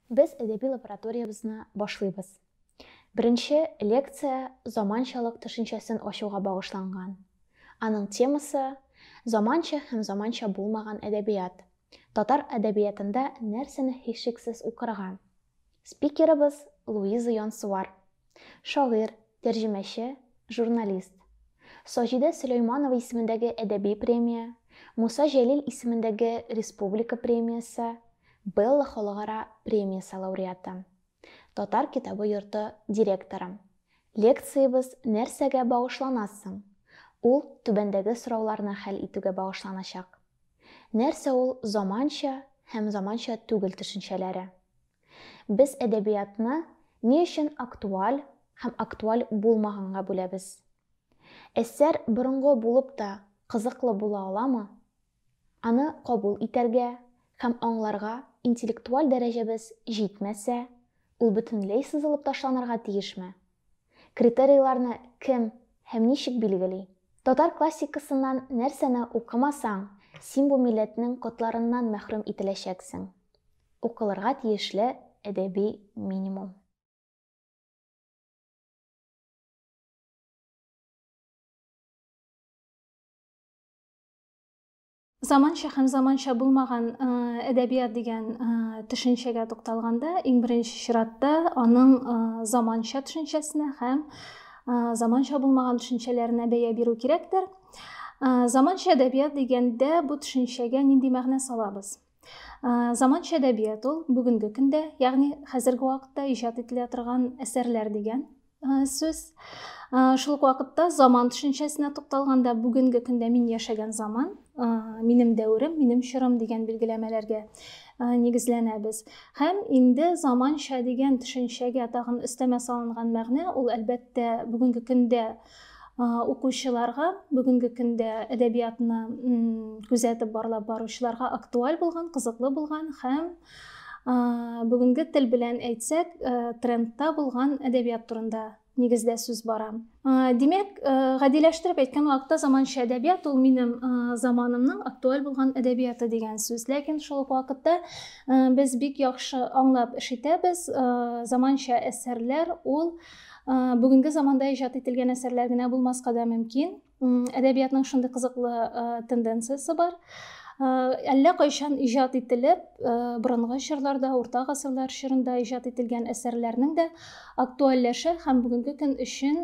Без әдәби лабораториябезне башлыйбыз. Беренче лекция заманчалык төшенчәсен ачуга багышланган. Аның темасы заманча һәм заманча булмаган әдәбият. Татар әдәбиятында нәрсәне һичшиксез укырга? Спикерыбыз Луиза Янсуар, Шагыйрь, тәрҗемәче, журналист. Саҗидә Сөләйманова исемендәге әдәби премия, Муса Җәлил исемендәге республика премиясе, Белла халыкара премиясе лауреаты. Татар китабы йорты директоры. Лекциябез Нәрсәгә багышлана соң? Ул түбәндәге сорауларны хәл итүгә багышланачак. Нәрсә ул заманча һәм заманча түгел төшенчәләре? Без әдәбиятны ни өчен актуаль һәм актуаль булмаганга бүләбез? Әсәр борынгы булып та кызыклы була аламы? Аны кабул итәргә һәм аңларга интеллектуаль дәрәҗәбез җитмәсә, ул бөтенләй сызылып ташланырга тиешме? Критерийларны кем һәм ничек билгели? Татар классикасыннан нәрсәне укымасаң, син бу милләтнең котларыннан мәхрүм ителәчәксең? Укылырга тиешле әдәби минимум. Заманча һәм заманча булмаган э, әдәбият дигән э, төшенчәгә тукталганда, иң беренче чиратта аның э, заманча төшенчәсенә һәм заманча булмаган төшенчәләренә бәя бирү кирәктер. Заманча әдәбият дигәндә бу төшенчәгә нинди мәгънә салабыз? Заманча әдәбият ул бүгенге көндә, ягъни хәзерге вакытта иҗат ителә торган әсәрләр дигән сүз. Шул ук вакытта заман төшенчәсенә тукталганда, бүгенге көндә мин яшәгән заман, минем дәверем, минем чорым дигән билгеләмәләргә нигезләнәбез. Һәм инде заманча дигән төшенчәгә тагын өстәмә салынган мәгънә ул әлбәттә бүгенге көндә укучыларга бүгенге көндә әдәбиятны күзәтеп барлап баручыларга актуаль булган кызыклы булган һәм бүгенге тел белән әйтсәк трендта булган әдәбият турында нигездә сүз бара димәк гадиләштереп әйткән вакытта заманча әдәбият ул минем заманымның актуаль булган әдәбияты дигән сүз ләкин шул ук вакытта без бик яхшы аңлап эш итәбез заманча әсәрләр ул бүгенге заманда иҗат ителгән әсәрләр генә булмаска да мөмкин әдәбиятның шундый кызыклы тенденциясе бар әллә кайчан иҗат ителеп борынгы чорларда урта гасырлар чорында иҗат ителгән әсәрләрнең дә актуальләшә һәм бүгенге көн өчен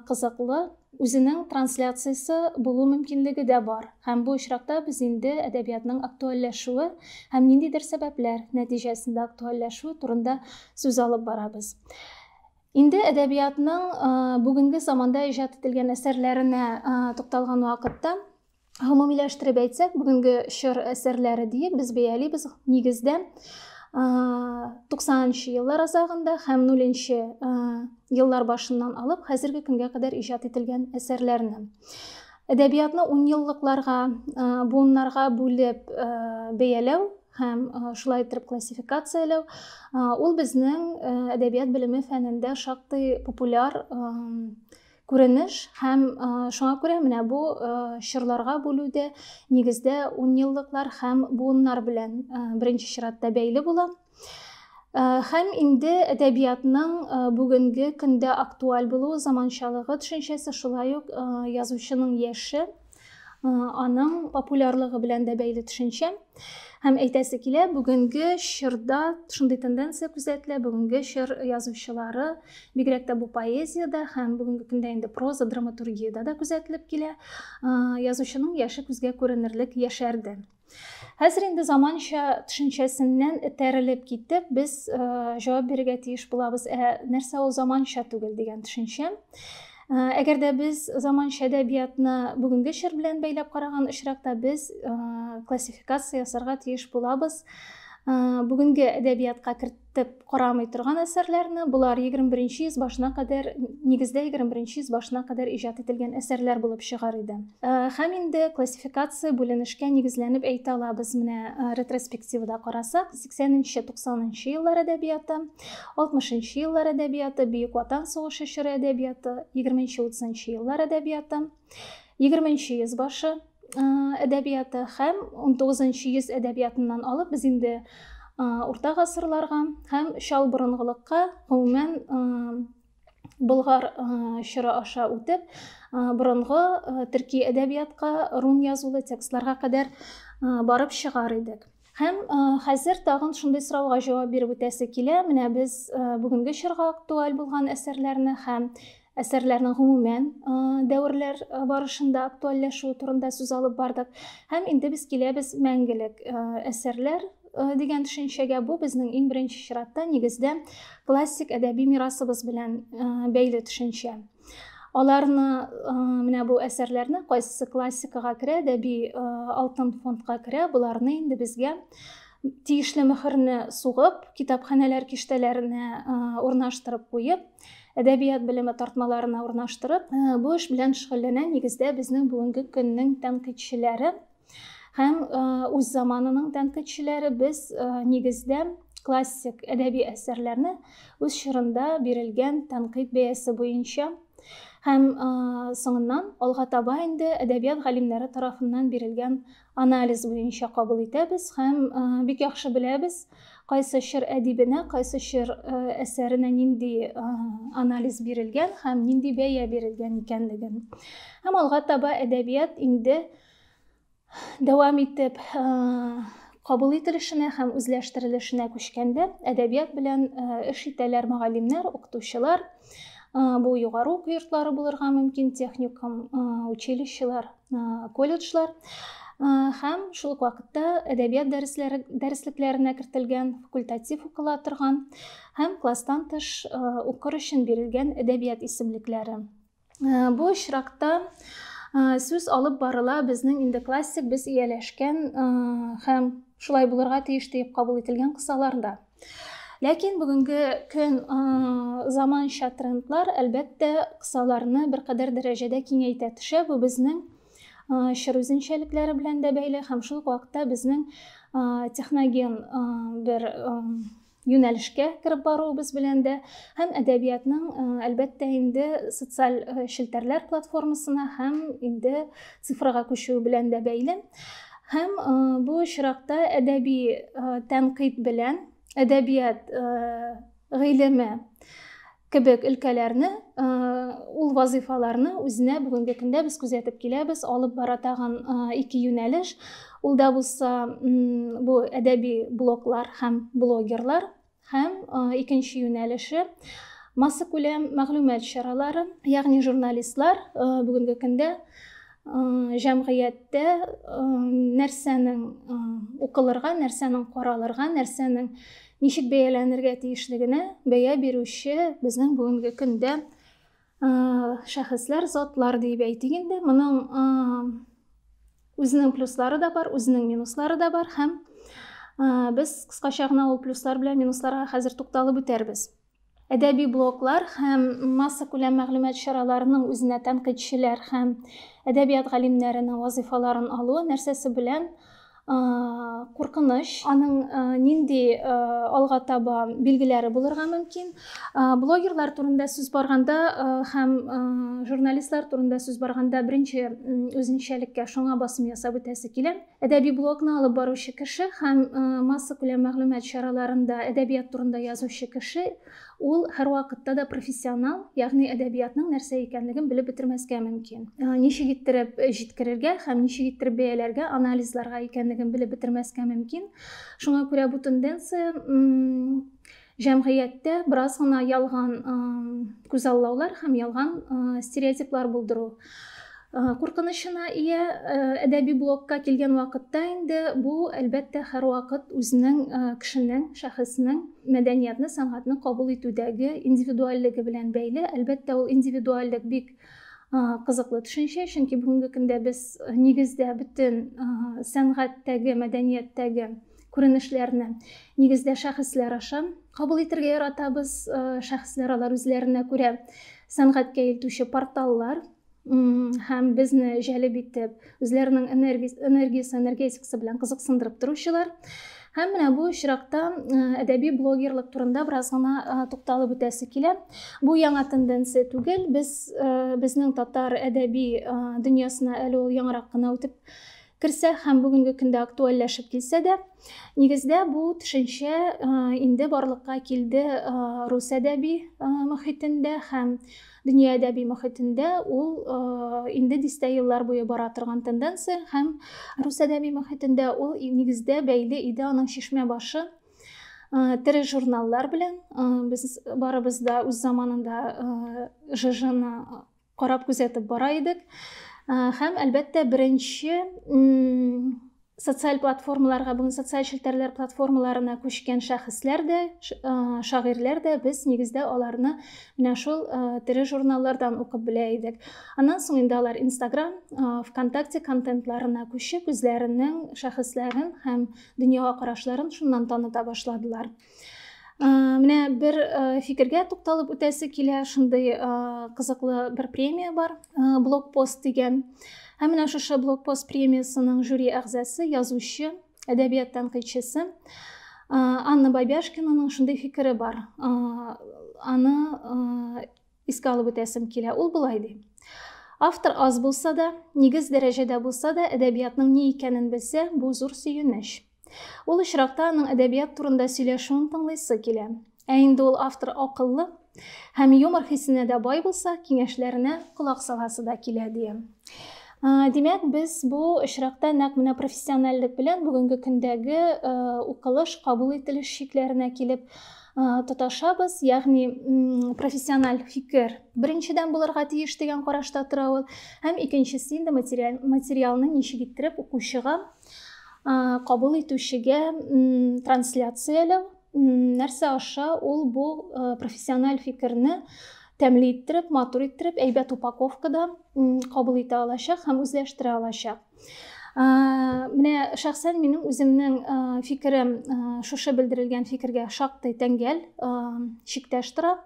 кызыклы үзенең трансляциясе булу мөмкинлеге дә бар һәм бу очракта без инде әдәбиятның актуальләшүе һәм ниндидер сәбәпләр нәтиҗәсендә актуальләшүе турында сүз алып барабыз Инде әдәбиятның бүгенге заманда иҗат ителгән әсәрләренә тукталган вакытта гомумиләштереп әйтсәк, бүгенге чор әсәрләре диеп без бәялибез нигездә 90-нчы еллар азагында һәм 0-нчы еллар башыннан алып хәзерге көнгә кадәр иҗат ителгән әсәрләрне. Әдәбиятны 10 еллыкларга, буыннарга бүлеп бәяләү һәм шулай иттереп классификацияләү ул безнең әдәбият белеме фәнендә шактый популяр күренеш һәм шуңа күрә менә бу чорларга бүлүдә нигездә унъеллыклар һәм буыннар белән беренче чиратта бәйле була һәм инде әдәбиятның бүгенге көндә актуаль булуы заманчалыгы төшенчәсе шулай ук язучының яше аның популярлыгы белән дә бәйле төшенчә һәм әйтәсе килә бүгенге чорда шундый тенденция күзәтелә бүгенге чор язучылары бигрәк тә бу поэзиядә һәм бүгенге көндә инде проза драматургиядә дә күзәтелеп килә язучының яше күзгә күренерлек яшәрде Хәзер инде заманча төшенчәсеннән этәрелеп китеп, без э, җавап бирергә тиеш булабыз. Ә нәрсә ул заманча түгел дигән төшенчә? Э, әгәр дә без заманча әдәбиятны бүгенге чор белән бәйләп караган очракта без э, классификация ясарга тиеш булабыз. Бүгенге әдәбиятка дип карамый торган әсәрләрне, болар 21 йөз башына кадәр, нигездә 21 йөз башына кадәр иҗат ителгән әсәрләр булып чыгар иде. Э, һәм инде классификация бүленешкә нигезләнеп әйтә алабыз. Менә э, ретроспективада карасак, 80-90 еллар әдәбияты, 60 еллар әдәбияты, Бөек Ватан сугышы чоры әдәбияты, 20-30 еллар әдәбияты, 20 йөз башы әдәбияты һәм 19 йөз әдәбиятыннан алып без инде урта гасырларга һәм чал борынгылыкка гомумән болгар чоры аша үтеп борынгы төрки әдәбиятка рун язулы текстларга кадәр барып чыгар идек Һәм хәзер тагын шундый сорауга җавап биреп үтәсе килә. Менә без бүгенге чорга актуаль булган әсәрләрне һәм әсәрләрнең гомумән дәверләр барышында актуальләшүе турында сүз алып бардык. Һәм инде без киләбез мәңгелек әсәрләр дигән төшенчәгә. Бу безнең иң беренче чиратта нигездә классик әдәби мирасыбыз белән бәйле төшенчә. Аларны менә бу әсәрләрне кайсы классикага керә, әдәби алтын фондка керә, боларны инде безгә тиешле мөхерне сугып, китапханәләр киштәләренә урнаштырып куеп, әдәбият белеме тартмаларына урнаштырып, бу эш белән шөгыльләнә нигездә безнең бүгенге көннең тәнкыйтьчеләре. Һәм үз заманының тәнкыйтьчеләре без нигездә классик әдәби әсәрләрне үз чорында бирелгән тәнкыйть бәясе буенча һәм соңыннан алга таба инде әдәбият галимнәре тарафыннан бирелгән анализ буенча кабул итәбез һәм бик яхшы беләбез кайсы чор әдибенә кайсы чор әсәренә нинди анализ бирелгән һәм нинди бәя бирелгән икәнлеген һәм алга таба әдәбият инде Дәвам итеп, кабул ителешенә һәм үзләштерелешенә күчкәндә әдәбият белән эш итәләр мөгаллимнәр, укытучылар. Бу югары уку йортлары булырга мөмкин, техникум, училищелар, колледжлар һәм шул ук вакытта әдәбият дәресләре дәреслекләренә кертелгән факультатив укыла торган һәм класстан тыш укыр өчен бирелгән әдәбият исемлекләре. Бу очракта сүз алып барыла безнең инде классик без ияләшкән һәм шулай булырга тиеш диеп кабул ителгән кысаларда. Ләкин бүгенге көн заманча трендлар әлбәттә кысаларны беркадәр дәрәҗәдә киңәйтә төшә. Бу безнең чор үзенчәлекләре белән дә бәйле һәм шул ук вакытта безнең техноген бер юнәлешкә кереп баруыбыз белән дә һәм әдәбиятның э, әлбәттә инде социаль э, челтәрләр платформасына һәм инде цифрага күчүе белән дә бәйле һәм э, бу очракта әдәби тәнкыйть белән әдәбият гыйлеме кебек өлкәләрне ул вазыйфаларны үзенә бүгенге көндә без күзәтеп киләбез алып бара тагын ике юнәлеш ул да булса бу әдәби блоклар һәм блогерлар һәм икенче юнәлеше массакүләм мәгълүмат чаралары ягъни журналистлар бүгенге көндә җәмгыятьтә нәрсәнең укылырга нәрсәнең каралырга нәрсәнең ничек бәяләнергә тиешлегенә бәя бирүче безнең бүгенге көндә шәхесләр затлар диеп әйтик инде моның үзенең плюслары да бар үзенең минуслары да бар һәм без кыскача гына ул плюслар белән минусларга хәзер тукталып үтәрбез Әдәби блоглар һәм массакүләм мәгълүмат чараларының үзенә тәнкыйтьчеләр һәм әдәбият галимнәренең вазыйфаларын алуы нәрсәсе белән куркыныч, аның нинди алга таба билгеләре булырга мөмкин. Блогерлар турында сүз барганда һәм журналистлар турында сүз барганда беренче үзенчәлеккә шуңа басым ясап үтәсе килә. Әдәби блогны алып баручы кеше һәм массакүләм мәгълүмат чараларында әдәбият турында язучы кеше, ул һәрвакытта да профессионал, ягъни әдәбиятның нәрсә икәнлеген белеп бетермәскә мөмкин. Ничек иттереп җиткерергә һәм ничек иттереп бәяләргә, анализларга икәнлеген белеп бетермәскә мөмкин. Шуңа күрә бу тенденция Җәмгыятьтә бераз гына ялган күзаллаулар һәм ялган стереотиплар булдыру куркынычына ия әдәби блокка килгән вакытта инде бу, әлбәттә, һәрвакыт үзенең кешенең, шәхеснең мәдәниятны, сәнгатьне кабул итүдәге индивидуальлеге белән бәйле. Әлбәттә, ул индивидуальлек бик кызыклы төшенчә, чөнки бүгенге көндә без нигездә бөтен сәнгатьтәге, мәдәнияттәге күренешләрне нигездә шәхесләр аша кабул итәргә яратабыз шәхесләр алар үзләренә күрә сәнгатькә илтүче порталлар һәм безне җәлеп итеп үзләренең энергиясе энергетикасы белән кызыксындырып торучылар Һәм менә бу очракта э, әдәби блогерлык турында бераз гына э, тукталып үтәсе килә. Бу яңа тенденция түгел. Без э, безнең татар әдәби дөньясына әле ул яңарак кына үтеп керсә һәм бүгенге көндә актуальләшеп килсә дә, нигездә бу төшенчә инде барлыкка килде рус әдәби мөхитендә һәм дөнья әдәби мөхитендә ул инде дистә еллар буе бара торган тенденция һәм рус әдәби мөхитендә ул нигездә бәйле иде аның чишмә башы тере журналлар белән без барыбыз да үз заманында жжны карап күзәтеп бара идек. Һәм әлбәттә беренче социаль платформаларга, бүген социаль челтәрләр платформаларына күчкән шәхесләр дә, шагыйрьләр дә без нигездә аларны менә шул тере журналлардан укып белә идек. Аннан соң инде алар Instagram, ВКонтакте контентларына күчеп, үзләренең шәхесләрен һәм дөньяга карашларын шуннан таныта башладылар. менә бер фикергә тукталып үтәсе килә шундый кызыклы бер премия бар блокпост дигән һәм менә шушы блокпост премиясының жюри әгъзасы язучы әдәбият тәнкыйтьчесе анна бабяшкинаның шундый фикере бар аны искә алып үтәсем килә ул болай ди автор аз булса да нигез дәрәҗәдә булса да әдәбиятның ни икәнен белсә бу зур сөенеч Ул очракта аның әдәбият турында сөйләшүен тыңлыйсы килә. Ә инде ул автор акыллы һәм юмор хисенә дә бай булса, киңәшләренә колак саласы да килә, ди. Димәк, без бу очракта нәкъ менә профессиональлек белән бүгенге көндәге укылыш, кабул ителеш чикләренә килеп тоташабыз, ягъни профессиональ фикер беренчедән булырга тиеш дигән карашта тора ул, һәм икенчесе инде материалны ничек иттереп укучыга кабул итүчегә трансляцияләү нәрсә аша ул бу профессиональ фикерне тәмле иттереп матур иттереп әйбәт упаковкада кабул итә алачак һәм үзләштерә алачак менә шәхсән минем үземнең фикерем шушы белдерелгән фикергә шактый тәңгәл чиктәш тора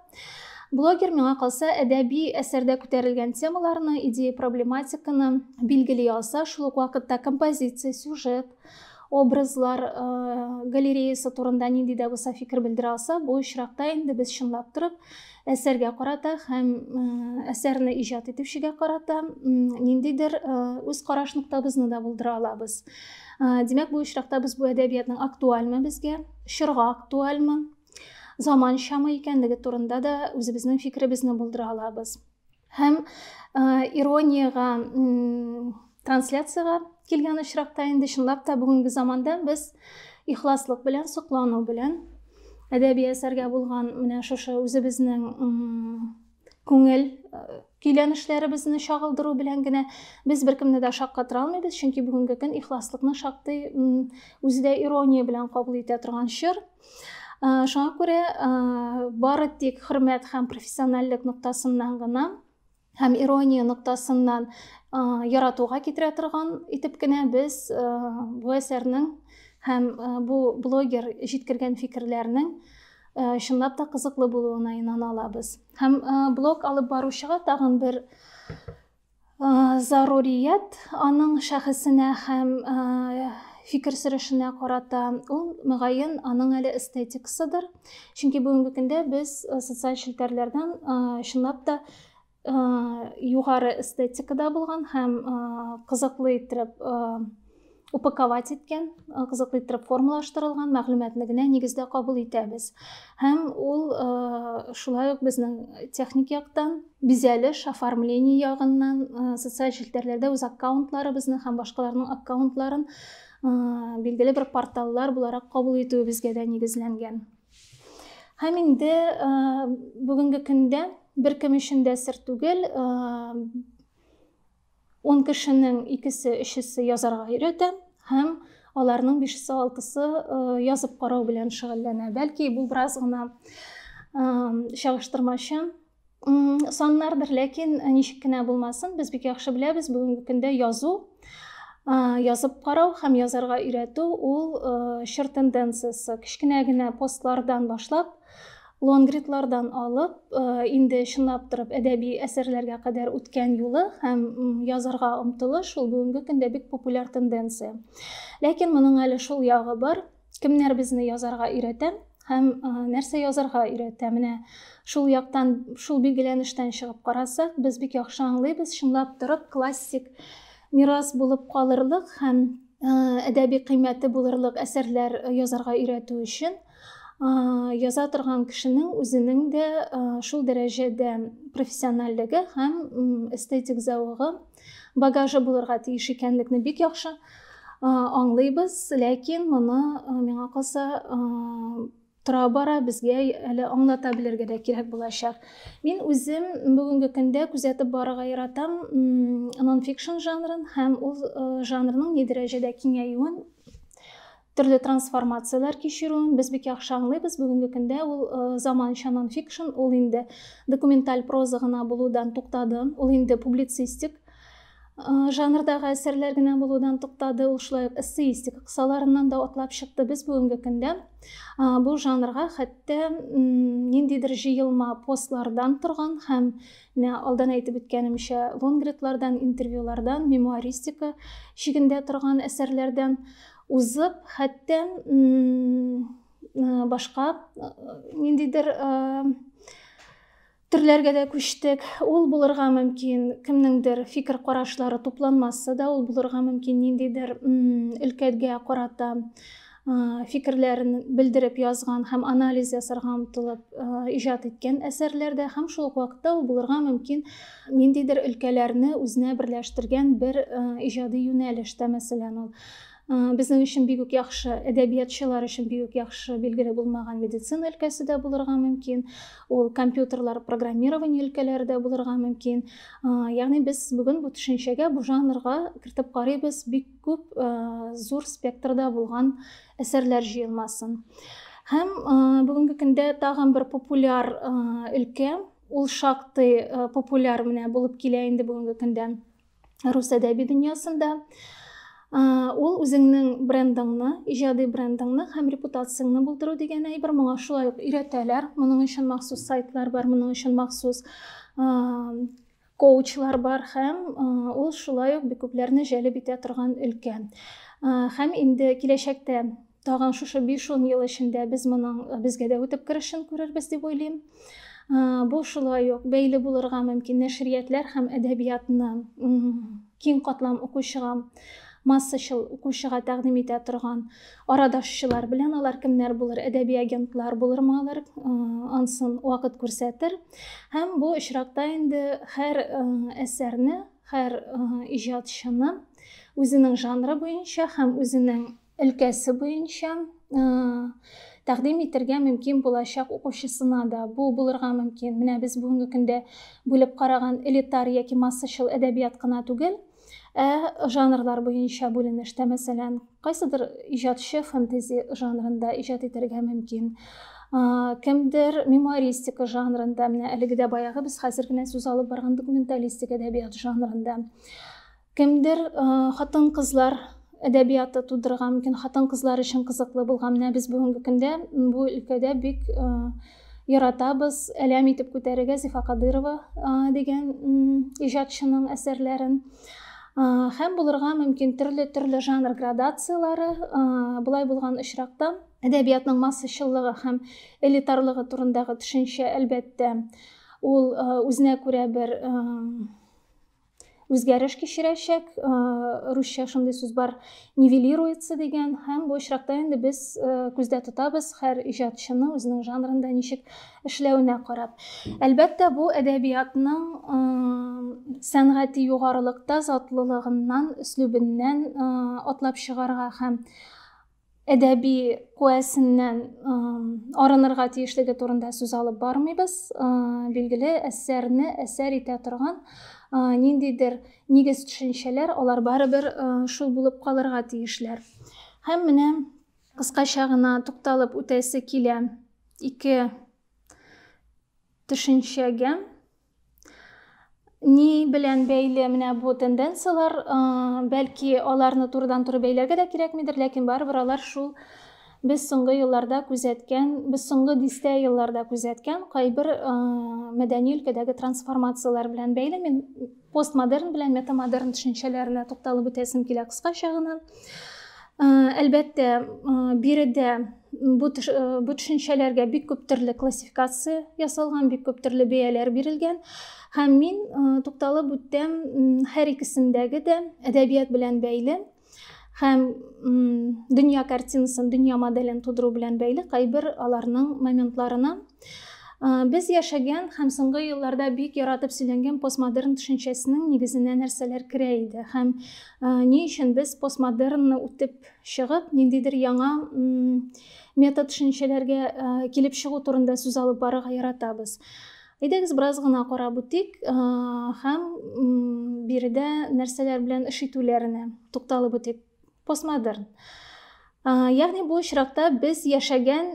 Блогер миңа калса әдәби әсәрдә күтәрелгән темаларны, идея проблематиканы билгели алса, шул ук вакытта композиция, сюжет, образлар э, галереясы турында нинди дә булса фикер белдерә алса, бу очракта инде без чынлап торып әсәргә карата һәм э, әсәрне иҗат итүчегә карата ниндидер э, үз караш ноктабызны да булдыра алабыз. Димәк, бу очракта без бу әдәбиятның актуальмы безгә, чорга актуальмы, заманчамы икәнлеге турында да үзебезнең фикеребезне булдыра алабыз. Һәм э, ирониягә трансляцияга килгән очракта инде чынлап та бүгенге заманда без ихласлык белән, соклану белән әдәби әсәргә булган менә шушы үзебезнең күңел көйләнешләребезне чагылдыру белән генә без беркемне дә шаккатыра алмыйбыз, чөнки бүгенге көн ихласлыкны шактый үзе дә ирония белән кабул итә торган чор. Шуңа күрә бары тик хөрмәт һәм профессиональлек ноктасыннан гына һәм ирония ноктасыннан яратуга китерә торган итеп кенә без бу әсәрнең һәм бу блогер җиткергән фикерләрнең чынлап та кызыклы булуына инана алабыз һәм блог алып баручыга тагын бер зарурият аның шәхесенә һәм фикер сөрәшенә карата ул мөгаен аның әле эстетикасыдыр чөнки бүгенге көндә без социаль челтәрләрдән чынлап та югары эстетикада булган һәм кызыклы иттереп упаковать иткән, кызыклы иттереп формалаштырылган мәгълүматны генә нигездә кабул итәбез. Һәм ул шулай ук безнең техник яктан, бизәлеш, оформление ягыннан, социаль челтәрләрдә үз аккаунтларыбызны һәм башкаларның аккаунтларын билгеле бер порталлар буларак кабул итүебезгә дә нигезләнгән. Һәм инде э, бүгенге көндә бер кем өчен дә сер түгел, э, он кешенең икесе, өчесе язарга өйрәтә һәм аларның бишесе, алтысы э, язып карау белән шөгыльләнә. Бәлки бу бераз гына чагыштырмачы, Саннардыр, ләкин э, ничек кенә булмасын, без бик яхшы беләбез, бүгенге көндә язу, язып карау һәм язарга өйрәтү ул э, чор тенденциясе. Кечкенә генә постлардан башлап, лонгридлардан алып, э, инде чынлап торып әдәби әсәрләргә кадәр үткән юлы һәм язарга омтылыш ул бүгенге көндә бик популяр тенденция. Ләкин моның әле шул ягы бар, кемнәр безне язарга өйрәтә һәм нәрсә язарга өйрәтә менә шул яктан шул билгеләнештән чыгып карасак без бик яхшы аңлыйбыз чынлап торып классик мирас булып калырлык һәм әдәби кыйммәте булырлык әсәрләр язарга өйрәтү өчен яза торган кешенең үзенең дә шул дәрәҗәдә профессиональлеге һәм эстетик зәвыгы Багажы булырга тиеш икәнлекне бик яхшы аңлыйбыз, ләкин моны миңа калса тора бара безгә әле аңлата белергә дә кирәк булачак. Мин үзем бүгенге көндә күзәтеп барырга яратам нонфикшн жанрын һәм ул жанрның ни дәрәҗәдә киңәюен төрле трансформацияләр кичерүен без бик яхшы аңлыйбыз. Бүгенге көндә ул э, заманча нонфикшн, ул инде документаль проза гына булудан туктады, ул инде публицистик э, жанрдагы әсәрләр генә булудан туктады, ул шулай ук эссеистика кысаларыннан да атлап чыкты. Без бүгенге көндә э, бу жанрга хәтта ниндидер җыелма постлардан торган һәм менә алдан әйтеп үткәнемчә лонгридлардан, интервьюлардан, мемуаристика шигендә торган әсәрләрдән узып, хәтта башка ниндидер төрләргә дә күчтек. Ул булырга мөмкин, кемнеңдер фикер карашлары тупланмасы да ул булырга мөмкин, ниндидер өлкәгә карата фикерләрен белдереп язган һәм анализ ясарга омтылып иҗат иткән әсәрләрдә һәм шул ук вакытта ул булырга мөмкин ниндидер өлкәләрне үзенә берләштергән бер иҗади юнәлештә мәсәлән ул безнең өчен бик үк яхшы әдәбиятчылар өчен бик үк яхшы билгеле булмаган медицина өлкәсе дә булырга мөмкин ул компьютерлар программирование өлкәләре дә булырга мөмкин ягъни без бүген бу төшенчәгә бу жанрга кертеп карыйбыз бик күп зур спектрда булган әсәрләр җыелмасын һәм бүгенге көндә тагын бер популяр өлкә ул шактый популяр менә булып килә инде бүгенге көндә рус әдәби дөньясында ул үзеңнең брендыңны иҗади брендыңны һәм репутацияңне булдыру дигән әйбер моңа шулай ук өйрәтәләр моның өчен махсус сайтлар бар моның өчен махсус коучлар бар һәм ул шулай ук бик күпләрне җәлеп итә торган өлкә һәм инде киләчәктә Тагын шушы 5-10 ел эчендә без моның безгә дә үтеп керешен күрербез дип уйлыйм. Бу шулай ук бәйле булырга мөмкин нәшриятләр һәм әдәбиятны киң катлам укучыга массачыл укучыга тәкъдим итә торган арадашчылар белән алар кемнәр булыр әдәби агентлар булырмы алар ансын вакыт күрсәтер һәм бу очракта инде һәр әсәрне һәр иҗатчыны үзенең жанры буенча һәм үзенең өлкәсе буенча тәкъдим итергә мөмкин булачак укучысына да бу булырга мөмкин. Менә без бүгенге көндә бүлеп караган элитар яки массачыл әдәбият кына түгел, ә жанрлар буенча бүленештә, мәсәлән, кайсыдыр иҗатчы фэнтези жанрында иҗат итәргә мөмкин, кемдер мемуаристика жанрында, менә әлеге дә баягы без хәзер генә сүз алып барган документалистик әдәбият жанрында. Кемдер хатын-кызлар әдәбияты тудырырга мөмкин, хатын-кызлар өчен кызыклы булган. Менә без бүгенге көндә бу өлкәдә бик яратабыз, әләм итеп күтәрергә Зифа Кадырова дигән иҗатчының әсәрләрен. Һәм булырга мөмкин төрле-төрле жанр градацияләре. Болай булган очракта әдәбиятның массачыллыгы һәм элитарлыгы турындагы төшенчә, әлбәттә, ул үзенә күрә бер үзгәреш кичерәчәк русча шундый сүз бар нивелируется дигән һәм бу очракта инде без күздә тотабыз һәр иҗатчыны үзенең жанрында ничек эшләвенә карап әлбәттә бу әдәбиятның сәнгати югарылыкта затлылыгыннан өслүбеннән атлап чыгарга һәм әдәби куәсеннән арынырга тиешлеге турында сүз алып бармыйбыз. Билгеле, әсәрне әсәр итә торган ниндидер нигез төшенчәләр, алар барыбер шул булып калырга тиешләр. Һәм менә кыскача гына тукталып үтәсе килә ике төшенчәгә. Ни белән бәйле менә бу тенденцияләр, бәлки аларны турыдан-туры бәйләргә дә кирәкмидер, ләкин барыбер алар шул без соңгы елларда күзәткән, без соңгы дистә елларда күзәткән кайбер мәдәни өлкәдәге трансформацияләр белән бәйле. Мин постмодерн белән метамодерн төшенчәләренә тукталып үтәсем килә кыскача гына. Әлбәттә, биредә бу төшенчәләргә бик күп төрле классификация ясалган, бик күп төрле бәяләр бирелгән. Һәм мин тукталып үттем һәр икесендәге дә әдәбият белән бәйле һәм дөнья картинасын, дөнья моделен тудыру белән бәйле кайбер аларның моментларына. Без яшәгән һәм соңгы елларда бик яратып сөйләнгән постмодерн төшенчәсенең нигезенә нәрсәләр керә иде һәм ни өчен без постмодернны үтеп чыгып, ниндидер яңа метод төшенчәләргә килеп чыгу турында сүз алып барырга яратабыз. Әйдәгез бераз гына карап үтик һәм биредә нәрсәләр белән эш итүләренә тукталып үтик. постмодерн ягъни бу очракта без яшәгән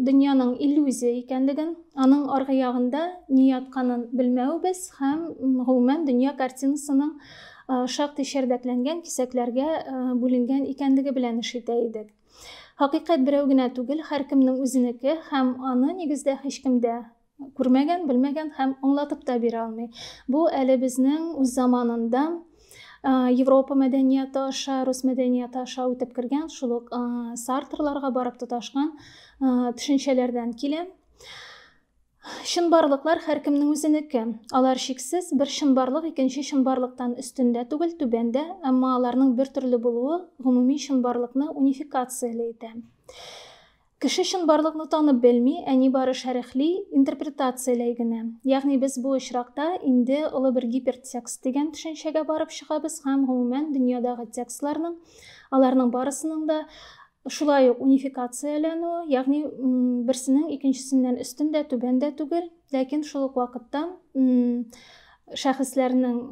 дөньяның иллюзия икәнлеген аның аргы ягында ни ятканын белмәвебез һәм гомумән дөнья картинасының шактый шәрдәкләнгән кисәкләргә бүленгән икәнлеге белән эш итә идек хакыйкать берәү генә түгел һәркемнең үзенеке һәм аны нигездә һичкемдә күрмәгән, белмәгән һәм аңлатып та бирә алмый. Бу әле безнең үз заманында Европа мәдәнияты аша, рус мәдәнияты аша үтеп кергән, шул ук сартрларга барып тоташкан төшенчәләрдән килә. Чынбарлыклар һәркемнең үзенеке. Алар шиксез бер чынбарлык икенче чынбарлыктан өстендә түгел, түбәндә, әмма аларның бер төрле булуы гомуми чынбарлыкны унификацияли итә. Кеше чынбарлыкны танып белми, ә нибары шәрехли, интерпретацияләй генә. Ягъни без бу очракта инде олы бер гипертекст дигән төшенчәгә барып чыгабыз һәм, гомумән, дөньядагы текстларның, аларның барысының да шулай ук унификацияләнүе, ягъни берсенең икенчесеннән өстен дә, түбән дә түгел, ләкин шул ук вакытта шәхесләрнең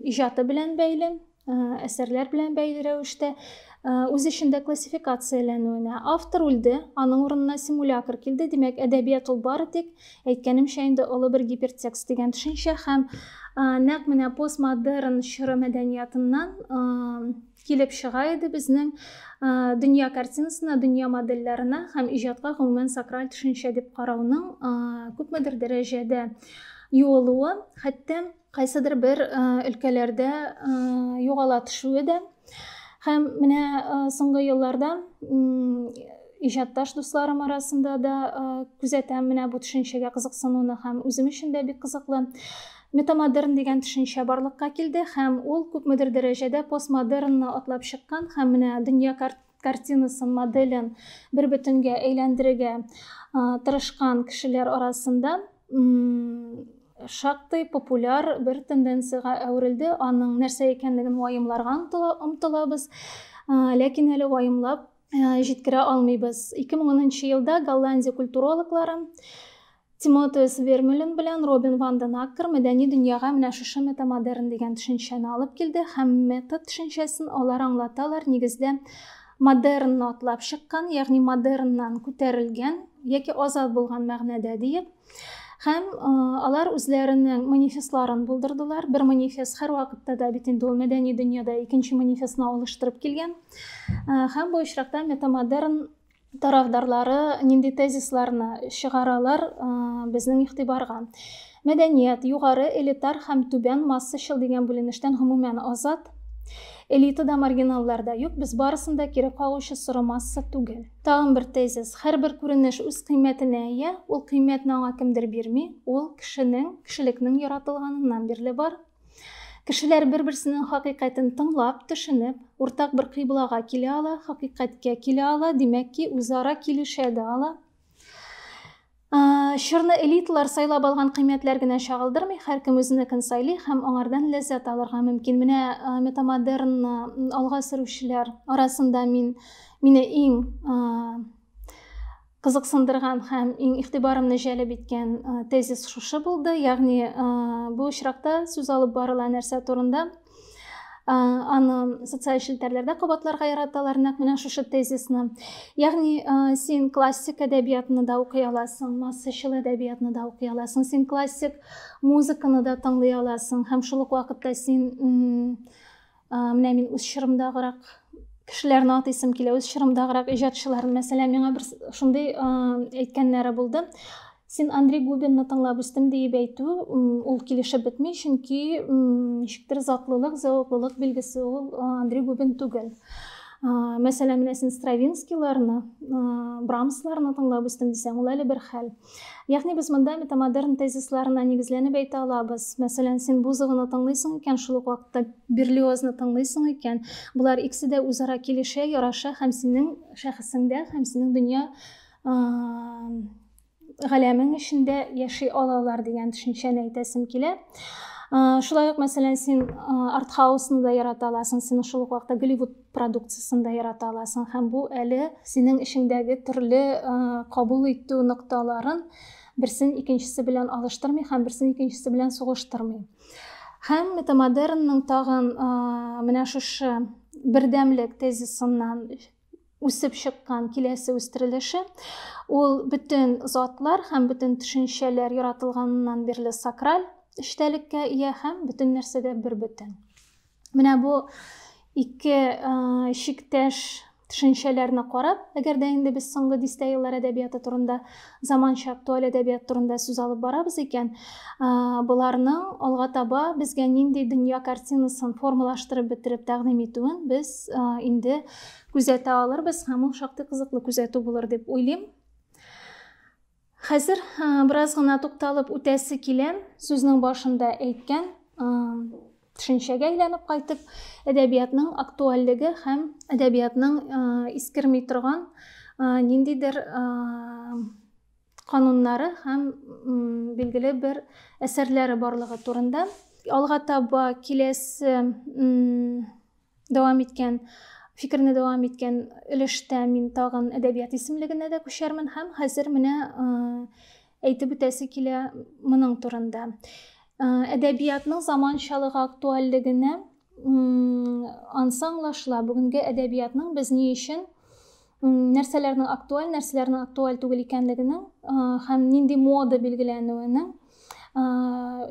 иҗаты белән бәйле, әсәрләр белән бәйле рәвештә үз эчендә классификацияләнүенә автор үлде аның урынына симулятор килде димәк әдәбият ул бары тик әйткәнемчә инде олы бер гипертекст дигән төшенчә һәм нәкъ менә постмодерн чоры мәдәниятыннан килеп чыга иде безнең дөнья картинасына дөнья модельләренә һәм иҗатка гомумән сакраль төшенчә дип карауның күпмедер дәрәҗәдә юылуы хәтта кайсыдыр бер өлкәләрдә югала төшүе дә һәм менә соңгы елларда иҗатташ дусларым арасында да күзәтәм менә бу төшенчәгә кызыксынуны һәм үзем өчен дә бик кызыклы метамодерн дигән төшенчә барлыкка килде һәм ул күпмедер дәрәҗәдә постмодернны атлап чыккан һәм менә дөнья картинасын, моделен бер бөтенгә әйләндерергә тырышкан кешеләр арасында шактый популяр бер тенденцияга әверелде. Аның нәрсә икәнлеген ваемларга омтылабыз, ләкин әле ваемлап җиткерә алмыйбыз. 2010 елда Голландия культурологлары Тимотеус Вермюлен белән Робин ван ден Аккер мәдәни дөньяга менә шушы метамодерн дигән төшенчәне алып килде һәм метод төшенчәсен алар аңлаталар, нигездә модернны атлап чыккан, ягъни модерннан күтәрелгән яки азат булган мәгънәдә диеп. Һәм алар үзләренең манифестларын булдырдылар. Бер манифест һәр вакытта да бит инде ул мәдәни дөньяда икенче манифестны алыштырып килгән. Һәм бу очракта метамодерн тарафдарлары нинди тезисларны чыгаралар э, безнең игътибарга мәдәният югары элитар һәм түбән массачыл дигән бүленештән гомумән азат элитада маргиналларда юк без барысында кире кагучы соры масса түгел тагын бер тезис һәрбер күренеш үз кыйммәтенә ия ул кыйммәтне аңа кемдер бирми ул кешенең кешелекнең яратылганыннан бирле бар Кешеләр бер-берсенең хакыйкатен тыңлап, төшенеп, уртак бер кыйблага килә ала, хакыйкатькә килә ала, димәк ки, үзара килешә дә ала. Чорны элиталар сайлап алган кыйммәтләр генә чагылдырмый, һәркем үзенекен сайлый һәм аңардан ләззәт алырга мөмкин. Менә метамодернны алга сөрүчеләр арасында мин мине иң Кызыксындырган һәм иң игътибарымны җәлеп иткән тезис шушы булды, ягъни бу очракта сүз алып барыла нәрсә турында? Аны социаль челтәрләрдә кабатларга яраталар, нәкъ менә шушы тезисны. Ягъни син классик әдәбиятны да укый аласың, массачыл әдәбиятны да укый аласың, син классик музыканы да тыңлый аласың һәм шул ук вакытта син менә мин үз чорымдагырак кешеләрне атыйсым килә үз чорымдагырак иҗатчыларны мәсәлән миңа бер шундый әйткәннәре булды син андрей губинны тыңлап үстем диеп әйтү ул килешеп бетми чөнки ничектер затлылык зәвыклылык билгесе ул андрей губин түгел мәсәлән менә син стравинскийларны брамсларны тыңлап үстем дисәң ул әле бер хәл Ягъни без монда метамодерн тезисларына нигезләнеп әйтә алабыз. Мәсәлән, син Бузованы тыңлыйсың икән, шул ук вакытта Берлиозны тыңлыйсың икән, булар икесе дә үзара килешә, яраша һәм синең шәхесеңдә, һәм синең дөнья галәмең эчендә яши алалар дигән төшенчәне әйтәсем килә. Шулай ук, мәсәлән, син артхаусны да ярата аласың, син шул ук вакытта Голливуд продукциясен дә ярата аласың һәм бу әле синең эшеңдәге төрле кабул итү нокталарын берсен икенчесе белән алыштырмый һәм берсен икенчесе белән сугыштырмый һәм метамодернның тагын менә шушы бердәмлек тезисыннан үсеп чыккан киләсе үстерелеше ул бөтен затлар һәм бөтен төшенчәләр яратылганнан бирле сакраль эчтәлеккә ия һәм бөтен нәрсә дә бер бөтен Менә бу ике шиктәш төшенчәләрне карап, әгәр дә инде без соңгы дистә еллар әдәбияты турында, заманча актуаль әдәбият турында сүз алып барабыз икән, боларның алга таба безгә нинди дөнья картинасын формалаштырып бетереп тәкъдим итүен без инде күзәтә алырбыз һәм ул шактый кызыклы күзәтү булыр дип уйлыйм. Хәзер бераз гына тукталып үтәсе килә, сүзнең башында әйткән төшенчәгә әйләнеп кайтып, әдәбиятның актуальлеге һәм әдәбиятның искерми торган ниндидер кануннары һәм билгеле бер әсәрләре барлыгы турында. Алга таба киләсе дәвам иткән фикерне дәвам иткән өлештә мин тагын әдәбият исемлегенә дә күчәрмен һәм хәзер менә әйтеп үтәсе килә моның турында әдәбиятның заманчалыгы актуальлегенә ансы аңлашыла бүгенге әдәбиятның без ни өчен нәрсәләрнең актуаль, нәрсәләрнең актуаль түгел икәнлегенең һәм нинди мода билгеләнүенең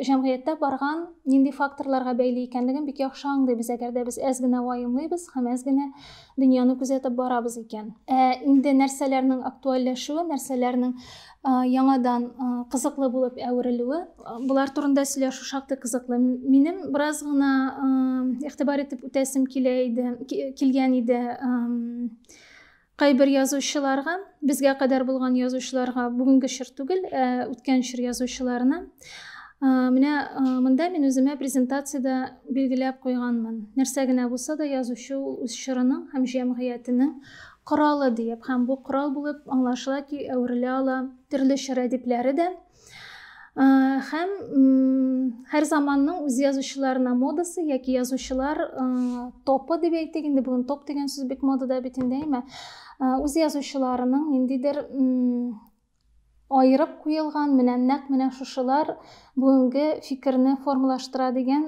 җәмгыятьтә барган нинди факторларга бәйле икәнлеген бик яхшы аңлыйбыз әгәр дә без әз генә ваемлыйбыз һәм әз генә дөньяны күзәтеп барабыз икән ә инде нәрсәләрнең актуальләшүе нәрсәләрнең яңадан кызыклы булып әверелүе болар турында сөйләшү шактый кызыклы минем бераз гына игътибар итеп үтәсем килә иде килгән иде кайбер язучыларга безгә кадәр булган язучыларга бүгенге чор түгел ә үткән чор язучыларына менә монда мин үземә презентацияда билгеләп куйганмын нәрсә генә булса да язучы үз чорының һәм җәмгыятенең Коралы диеп һәм бу корал булып аңлашыла ки, әверелә ала төрле чор әдипләре дә. Һәм һәр заманның үз язучыларына модасы яки язучылар топы дип әйтик, инде бүген топ дигән сүз бик модада бит инде, әйме? Үз язучыларының ниндидер аерып куелган менә нәкъ менә шушылар бүгенге фикерне формалаштыра дигән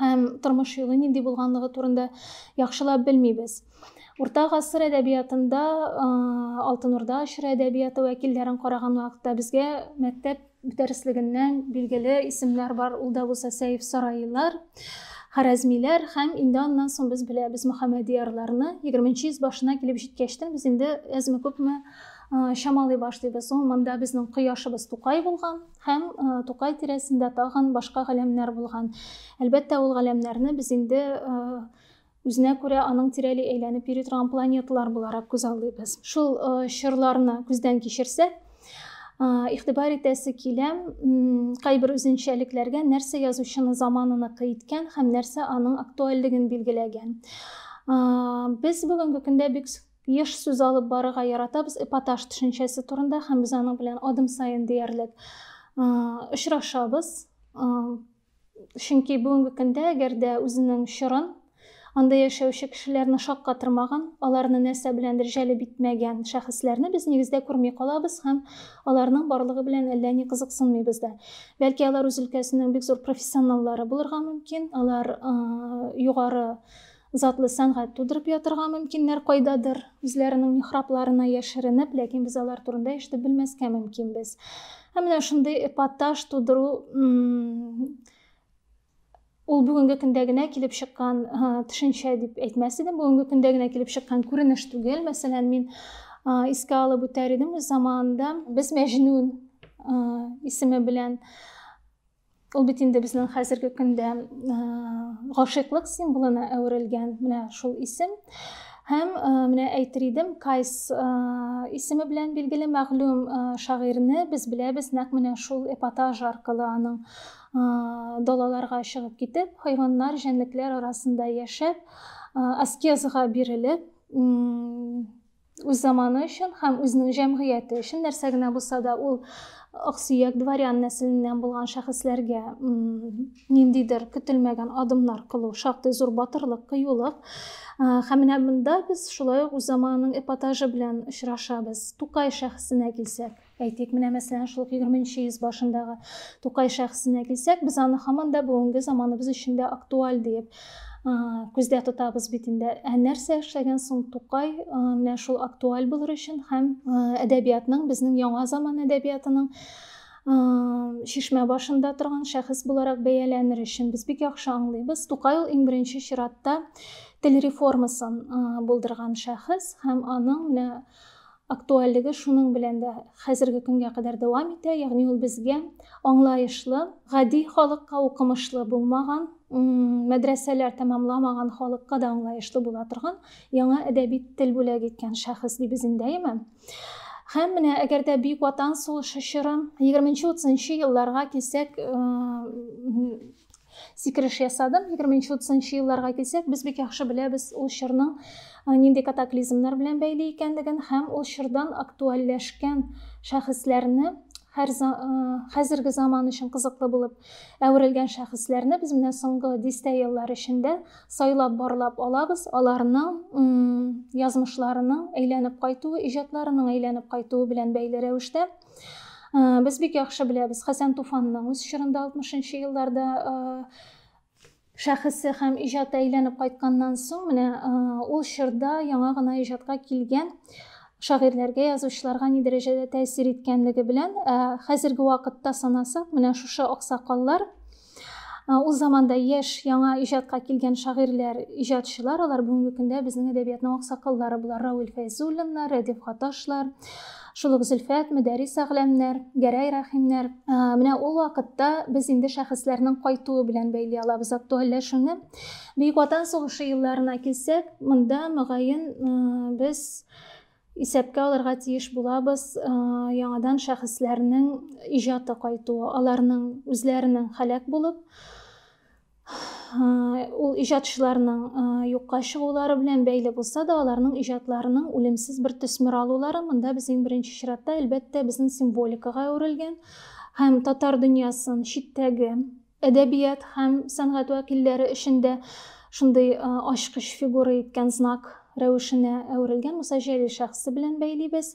һәм тормыш юлы нинди булганлыгы турында яхшылап белмибез. Урта гасыр әдәбиятында Алтын Урда ашыры әдәбияты вәкилләрен караган вакытта безгә мәктәп дәреслегеннән билгеле исемнәр бар. Ул да булса Сәйф сарайлар, Харәзмиләр һәм инде аннан соң без беләбез Мөхәммәдиярларны. 20 йөз башына килеп җиткәчтен без инде әзме күпме чамалый башлыйбыз. Ул монда безнең кояшыбыз Тукай булган. Һәм Тукай тирәсендә тагын башка галәмнәр булган. Әлбәттә, ул галәмнәрне без инде үзенә күрә аның тирәли әйләнеп йөри торган планеталар буларак күз алдыйбыз. Шул чорларны күздән кичерсәк, игътибар итәсе килә, кайбер үзенчәлекләргә нәрсә язучыны заманыныкы иткән һәм нәрсә аның актуальлеген билгеләгән. Без бүгенге көндә бик Еш сүз алып барырга яратабыз эпатаж төшенчәсе турында һәм без аның белән адым саен диярлек очрашабыз. Чөнки бүгенге көндә әгәр дә үзенең чорын анда яшәүче кешеләрне шаккатырмаган, аларны нәрсә беләндер җәлеп итмәгән шәхесләрне без нигездә күрми калабыз һәм аларның барлыгы белән әллә ни кызыксынмыйбыз да. Бәлки алар үз өлкәсенең бик зур профессионаллары булырга мөмкин, алар югары Затлы сәнгать тудырып ятырга мөмкиннәр кайдадыр, үзләренең михрабларына яшеренеп, ләкин без алар турында ишетеп белмәскә мөмкинбез. Ә менә шундый эпатаж тудыру ул бүгенге көндә генә килеп чыккан төшенчә дип әйтмәс идем бүгенге көндә генә килеп чыккан күренеш түгел мәсәлән мин искә алып үтәр идем үз заманында без мәҗнүн исеме белән Ул бит инде безнең хәзерге көндә гашыйклык символына әверелгән менә шул исем. Һәм менә әйтер идем, Кайс исеме белән билгеле мәгълүм шагыйрьне без беләбез нәкъ менә шул эпатаж аркылы аның далаларга чыгып китеп, хайваннар, җәнлекләр арасында яшәп, аскезга бирелеп, үз заманы өчен һәм үзенең җәмгыяте өчен нәрсә генә булса да ул аксөяк дворян нәселеннән булган шәхесләргә ниндидер көтелмәгән адымнар кылу шактый зур батырлык кыюлык һәм менә монда без шулай ук үз заманының эпатажы белән очрашабыз тукай шәхесенә килсәк Әйтик, менә мәсәлән, шул ук егерме нче йөз башындагы Тукай шәхесенә килсәк, без аны һаман да бүгенге заманыбыз өчен дә актуаль диеп күздә тотабыз бит инде. Ә нәрсә эшләгән соң Тукай менә шул актуаль булыр өчен һәм әдәбиятның, безнең яңа заман әдәбиятының шишмә башында торган шәхес буларак бәяләнер өчен без бик яхшы аңлыйбыз. Тукай ул иң беренче чиратта тел реформасын булдырган шәхес һәм аның менә Актуальлеге шуның белән дә хәзерге көнгә кадәр дәвам итә, ягъни ул безгә аңлаешлы, гади халыкка, укымышлы булмаган, мәдрәсәләр тәмамламаган халыкка да аңлаешлы була торган яңа әдәби тел бүләк иткән шәхес ди безендәеме. Һәм менә әгәр дә Бөек Ватан сугышы чоры, 20-30 нчы елларга килсәк, сикереш ясадым егерменче утызынчы елларга килсәк без бик яхшы беләбез ул чорның э, нинди катаклизмнар белән бәйле икәнлеген һәм ул чордан актуальләшкән шәхесләрне һәр э, хәзерге заман өчен кызыклы булып әверелгән шәхесләрне без менә соңгы дистә еллар эчендә сайлап барлап алабыз аларның язмышларының әйләнеп кайтуы иҗатларының әйләнеп кайтуы белән бәйле рәвештә Без бик яхшы беләбез Хәсән Туфанның үз чорында 60-нчы елларда шәхесе һәм иҗаты әйләнеп кайтканнан соң менә ул чорда яңа гына иҗатка килгән шагыйрьләргә язучыларга ни дәрәҗәдә тәэсир иткәнлеге белән хәзерге вакытта санасак менә шушы аксакаллар Ул заманда яшь, яңа иҗатка килгән шагыйрьләр, иҗатчылар, алар бүгенге көндә безнең әдәбиятның аксакаллары булар. Равил Фәйзуллиннар, Рәдиф Гаташлар, шул ук Зөлфәт, Мөдәрис Әгъләмнәр, Гәрәй Рәхимнәр. Менә ул вакытта без инде шәхесләрнең кайтуы белән бәйли алабыз актуальләшүне. Бөек Ватан сугышы елларына килсәк, монда, мөгаен, без исәпкә алырга тиеш булабыз яңадан шәхесләрнең иҗаты кайтуы аларның үзләренең һәлак булып ул иҗатчыларның юкка чыгулары белән бәйле булса да аларның иҗатларының үлемсез бер төсмер алулары монда без иң беренче чиратта әлбәттә безнең символикага әверелгән һәм татар дөньясын читтәге әдәбият һәм сәнгать вәкилләре өчен дә шундый ачкыч фигура иткән знак рәвешенә әверелгән Муса Җәлил шәхесе белән бәйлибез.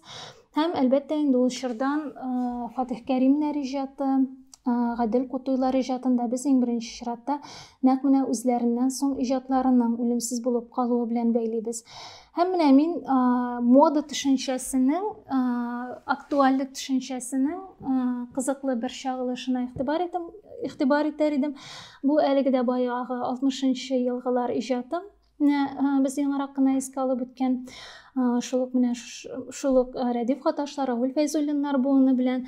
Һәм, әлбәттә, инде ул чордан Фатих Кәримнәр иҗаты, Гадел Кутуйлар иҗатын да без иң беренче чиратта нәкъ менә үзләреннән соң иҗатларының үлемсез булып калуы белән бәйлибез. Һәм менә мин ә, мода төшенчәсенең, ә, актуальлек төшенчәсенең ә, кызыклы бер чагылышына игътибар итәм, игътибар итәр идем. Бу әлеге дә баягы 60-нчы елгылар иҗатым. Менә ә, без яңарак кына искә алып үткән шул ук менә шул ук Рәдиф Хаташлар, Равил Фәйзуллиннар буыны белән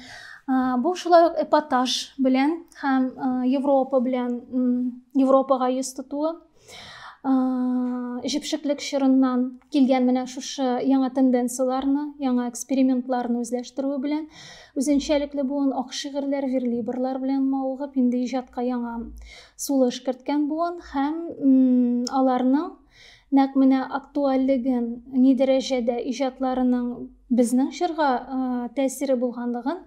бу шулай ук эпатаж белән һәм Европа белән Европага йөз тотуы җепшеклек чорыннан килгән менә шушы яңа тенденцияләрне, яңа экспериментларны үзләштерүе белән, үзенчәлекле буын ак шигырьләр, верлибрлар белән мавыгып, инде иҗатка яңа сулыш керткән буын һәм аларның нәкъ менә актуальлеген, ни дәрәҗәдә иҗатларының безнең чорга тәэсире булганлыгын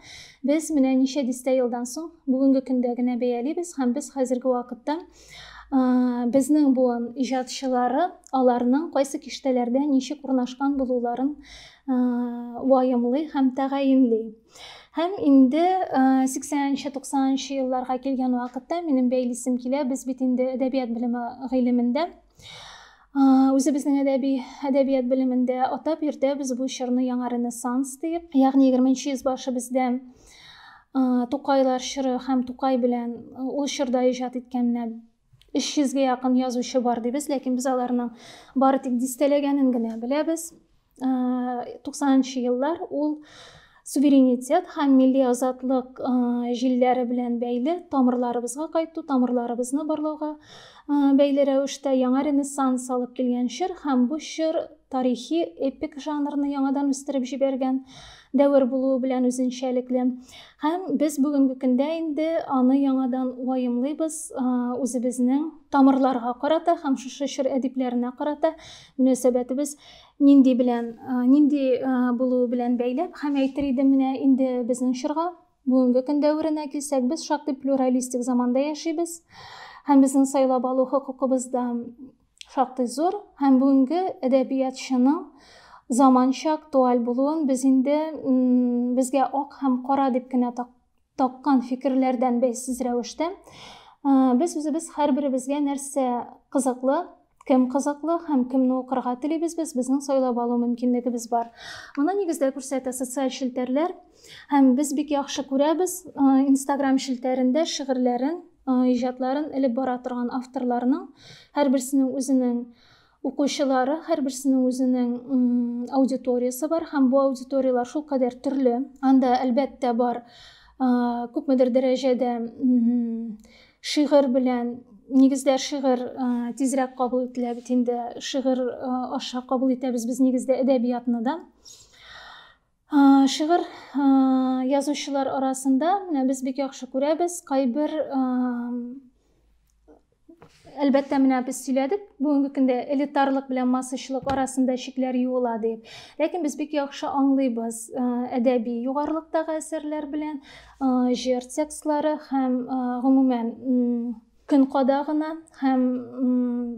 без менә ничә дистә елдан соң бүгенге көндә генә бәялибез һәм без хәзерге вакытта Безнең буын иҗатчылары аларның кайсы киштәләрдә ничек урнашкан булуларын ваемлый һәм тәгаенли. Һәм инде 80-90 елларга килгән вакытта минем бәйлисем килә, без бит инде әдәбият белеме гыйлемендә үзебезнең әдәби әдәбият белемендә атап йөртәбез бу чорны яңа ренессанс дип ягъни егерменче йөз башы бездә тукайлар чоры һәм тукай белән ул чорда иҗат иткән менә өч йөзгә якын язучы бар дибез ләкин без аларның бары тик дистәләгәнен генә беләбез 90-нчы еллар ул суверенитет һәм милли азатлык җилләре белән бәйле тамырларыбызга кайту, тамырларыбызны барлауга бәйле рәвештә яңа ренессанс алып килгән чор һәм бу чор тарихи эпик жанрны яңадан үстереп җибәргән дәвер булуы белән үзенчәлекле. Һәм без бүгенге көндә инде аны яңадан ваемлыйбыз, үзебезнең тамырларга карата һәм шушы чор әдипләренә карата мөнәсәбәтебез нинди белән нинди булуы белән бәйләп һәм әйтер идем менә инде безнең чорга бүгенге көн дәверенә килсәк без шактый плюралистик заманда яшибез һәм безнең сайлап алу хокукыбыз да шактый зур һәм бүгенге әдәбиятчының заманча актуаль булуын без инде безгә ак һәм кара дип кенә таккан фикерләрдән бәйсез рәвештә, без үзебез һәрберебезгә нәрсә кызыклы, кем кызыклы һәм кемне укырга телибез, без безнең сайлап алу мөмкинлегебез бар. Моны нигездә күрсәтә социаль челтәрләр һәм без бик яхшы күрәбез Instagram челтәрендә шигырьләрен, иҗатларын элеп бара торган авторларның һәрберсенең үзенең Укучылары һәрберсенең үзенең аудиториясе бар һәм бу аудиторияләр шул кадәр төрле. Анда, әлбәттә, бар күпмедер дәрәҗәдә шигырь белән нигездә шигырь тизрәк кабул ителә бит инде шигырь аша кабул итәбез без нигездә әдәбиятны да Шигырь язучылар арасында без бик яхшы күрәбез. Кайбер әлбәттә менә без сөйләдек бүгенге көндә элитарлык белән массачылык арасында чикләр юыла дип ләкин без бик яхшы аңлыйбыз э, әдәби югарылыктагы әсәрләр белән э, җыр текстлары һәм э, гомумән көн кадагына һәм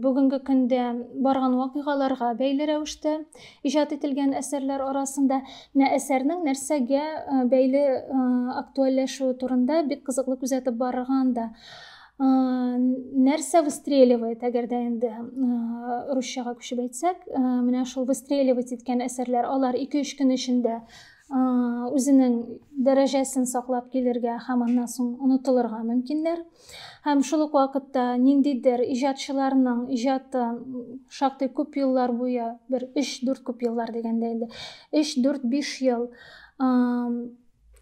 бүгенге көндә барган вакыйгаларга бәйле рәвештә иҗат ителгән әсәрләр арасында менә әсәрнең нәрсәгә бәйле актуальләшүе турында бик кызыклы күзәтеп барырга анда нәрсә выстреливает әгәр дә инде русчага күчеп әйтсәк менә шул выстреливать иткән әсәрләр алар ике өч көн эчендә үзенең дәрәҗәсен саклап килергә һәм аннан соң онытылырга мөмкиннәр Һәм шул ук вакытта ниндидер иҗатчыларның иҗаты шактый күп еллар буе, бер 3-4 күп еллар дигәндә инде, 3-4-5 ел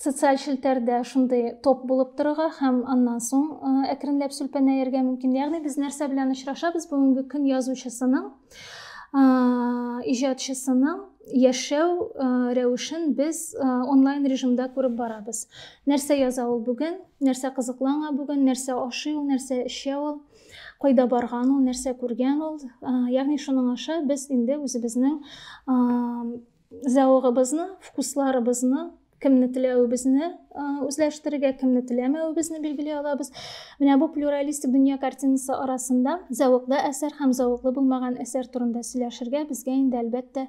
социаль челтәрдә шундый топ булып торырга һәм аннан соң әкренләп сүлпәнәергә мөмкин. Ягъни без нәрсә белән очрашабыз бүгенге көн язучысының иҗатчысының яшәү рәвешен без онлайн режимда күреп барабыз нәрсә яза ул бүген нәрсә кызыклы аңа бүген нәрсә ашый ул нәрсә эчә ул кайда барган ул нәрсә күргән ул ягъни шуның аша без инде үзебезнең зәвыгыбызны вкусларыбызны кемне теләвебезне үзләштерергә кемне теләмәвебезне билгели алабыз менә бу плюралистик дөнья картинасы арасында зәвыклы әсәр һәм зәвыклы булмаган әсәр турында сөйләшергә безгә инде әлбәттә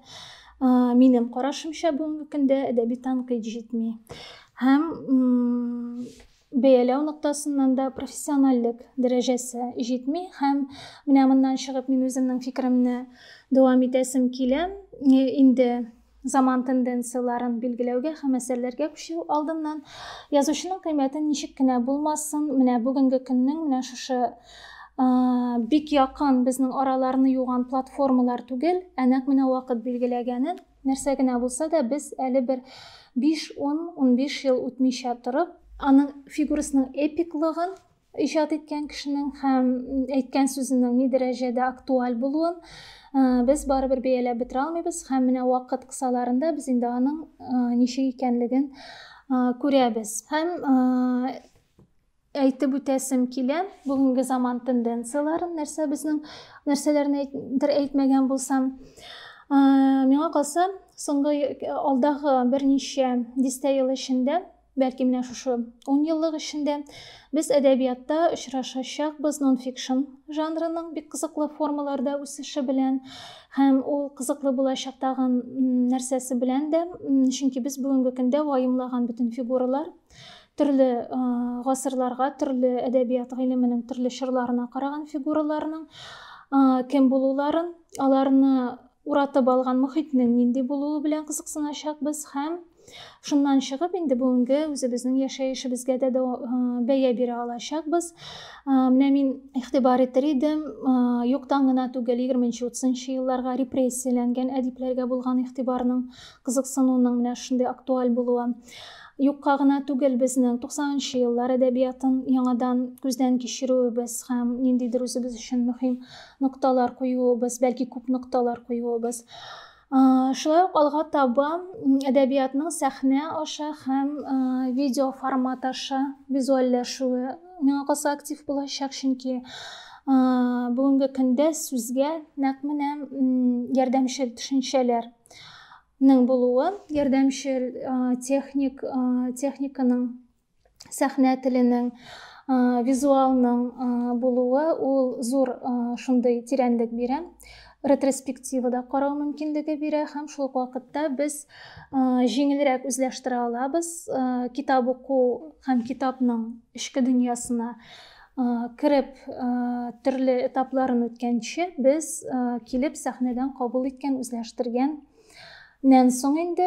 минем карашымча бүгенге көндә әдәби танкыйт җитми һәм бәяләү ноктасыннан да профессиональлек дәрәҗәсе җитми һәм менә моннан чыгып мин үземнең фикеремне дәвам итәсем килә инде Заман тенденцияләрен билгеләүгә һәм әсәрләргә күчү алдыннан язучының кыйммәтен ничек кенә булмасын, менә бүгенге көннең менә шушы бик якын безнең араларны юган платформалар түгел, ә нәкъ менә вакыт билгеләгәнен, нәрсә генә булса да без әле бер 5-10-15 ел үтмичә торып, аның фигурасының эпиклыгын иҗат иткән кешенең һәм әйткән сүзенең ни дәрәҗәдә актуаль булуын без барыбер бәяләп бетерә алмыйбыз һәм менә вакыт кысаларында без инде аның ничек икәнлеген күрәбез һәм әйтеп үтәсем килә бүгенге заман тенденцияләрен нәрсә безнең нәрсәләрне әйтер әйтмәгән булсам миңа калса соңгы алдагы берничә дистә ел эчендә Бәлки менә шушы ун еллык эчендә без әдәбиятта очрашачакбыз нонфикшн жанрының бик кызыклы формаларда үсеше белән һәм ул кызыклы булачак тагын нәрсәсе белән дә, чөнки без бүгенге көндә ваемлаган бөтен фигуралар төрле гасырларга, төрле әдәбият гыйлеменең төрле чорларына караган фигураларның кем булуларын, аларны уратып алган мөхитнең нинди булуы белән кызыксыначакбыз һәм Шуннан чыгып, инде бүгенге үзебезнең яшәешебезгә дә э, бәя бирә алачакбыз. Э, менә мин игътибар итер идем, э, юктан гына түгел 20-30 елларга репрессияләнгән әдипләргә булган игътибарның, кызыксынуның менә шундый актуаль булуы. Юкка гына түгел безнең 90 еллар әдәбиятын яңадан күздән кичерүебез һәм ниндидер үзебез өчен мөһим нокталар куюыбыз, бәлки күп нокталар куюыбыз. Шулай ук алга таба әдәбиятның сәхнә аша һәм видео формат аша визуальләшүе миңа калса актив булачак, чөнки бүгенге көндә сүзгә нәкъ менә ярдәмчел төшенчәләрнең булуы, ярдәмчел техник техниканың сәхнә теленең визуалның булуы ул зур шундый тирәнлек бирә ретроспективада карау мөмкинлеге бирә һәм шул ук вакытта без җиңелрәк үзләштерә алабыз китап уку һәм китапның эчке дөньясына кереп төрле этапларын үткәнче без килеп сәхнәдән кабул иткән үзләштергән Нән соң инде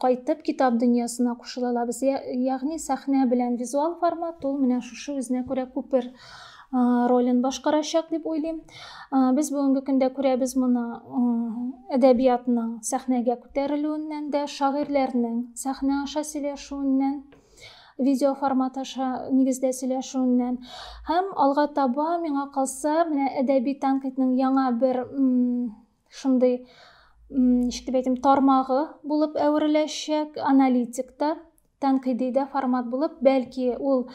кайтып китап дөньясына кушылалабыз. Ягъни сәхнә белән визуал формат ул менә шушы үзенә күрә күпер ролен башкарачак дип уйлыйм. Без бүгенге көндә күрәбез моны әдәбиятның сәхнәгә күтәрелүеннән дә, шагыйрьләрнең сәхнә аша сөйләшүеннән, видео формат аша нигездә сөйләшүеннән һәм алга таба миңа калса менә әдәби тәнкыйтьнең яңа бер шундый ничек дип әйтим тармагы булып әвереләчәк аналитик та тәнкыйди дә формат булып бәлки ул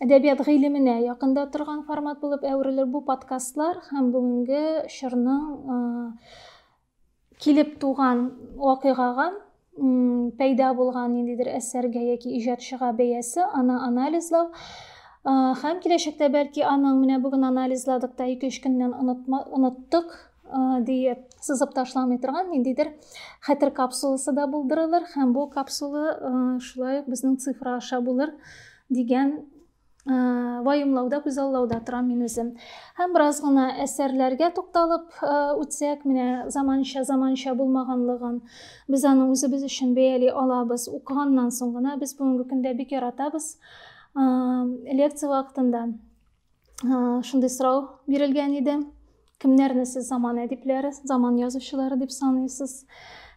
әдәбият гыйлеменә якында торган формат булып әверелер бу подкастлар һәм бүгенге чорның килеп туган вакыйгага пәйда булган ниндидер әсәргә яки иҗатчыга бәясе аны анализлау һәм киләчәктә бәлки аның менә бүген анализладык та ике өч көннән оныттык диеп сызып ташламый торган ниндидер хәтер капсуласы да булдырылыр һәм бу капсула шулай ук безнең цифра аша булыр дигән вайымлауда күзаллауда торам мин үзем һәм бераз гына әсәрләргә тукталып үтсәк менә заманча заманча булмаганлыгын без аны үзебез өчен бәяли алабыз укыганнан соң гына без бүгенге көндә бик яратабыз лекция вакытында шундый сорау бирелгән иде кемнәрне сез заман әдипләре заман язучылары дип саныйсыз